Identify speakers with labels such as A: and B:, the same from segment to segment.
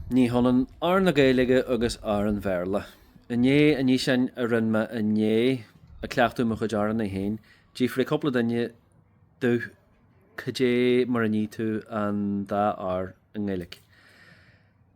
A: Ní hionann r na Gaeilge agus r an Bhéarla. I ndiaidh an fhíseáin a rinn mé inné ag cleachtadh mo chuid r-annaí féin, d'fhiafraigh cúpla duine domh cad é mar a ní tú an dá r i nGaeilge.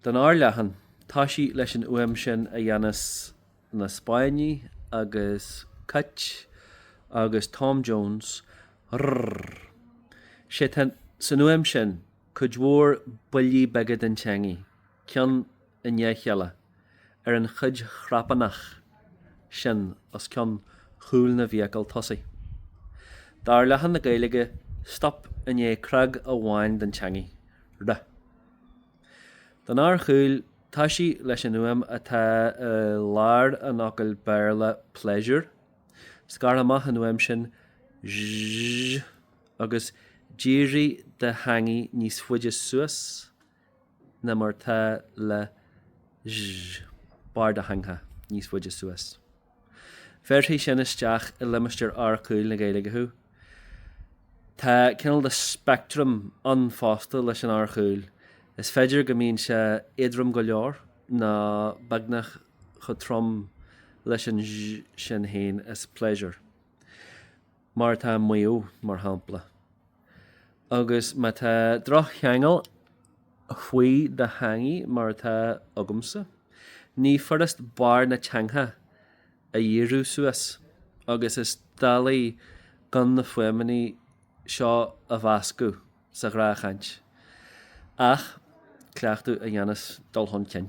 A: Don r leathan, toisigh leis an fhuaim sin a dhéanas na Spáinnigh agus cait agus Tom Jones, rrrr. Sé atá san fhuaim sin. Cuid mhór buillí beaga den teangaidh, ceann i ndiaidh a chéile, ar an chuid chnapánach sin os cionn chúl na bhfiacal tosaigh. D'r leathan na Gaeilge, stop i ndiaidh cnag amháin den teangaidh, re. Don r chaol, toisigh leis an fhuaim atá i lár an fhocail Béarla pleasure, scairt amach an fhuaim sin zh. agus dírigh do theangaidh níos faide suas ná mar atá le sh. Barr do theangtha níos faide suas. Bhéarfaidh sin isteach i limistéar r caol na Gaeilge thú. Tá cineál de spectrum ann fosta leis an r chaol. Is féidir go mbíonn sé éadrom go leor nó beagnach chomh trom leis an zh sin féin as pleasure. mar atá i Maigh Eo, mar shampla, agus má tá droch-cheangal faoi do theangaidh mar atá agamsa, ní furast barr na teangtha a dhíriú suas agus is doiligh gan na fuaimeanna seo a mheascadh sa ghnáthchaint ach cleachtadh a dhéanfas dul chun cinn.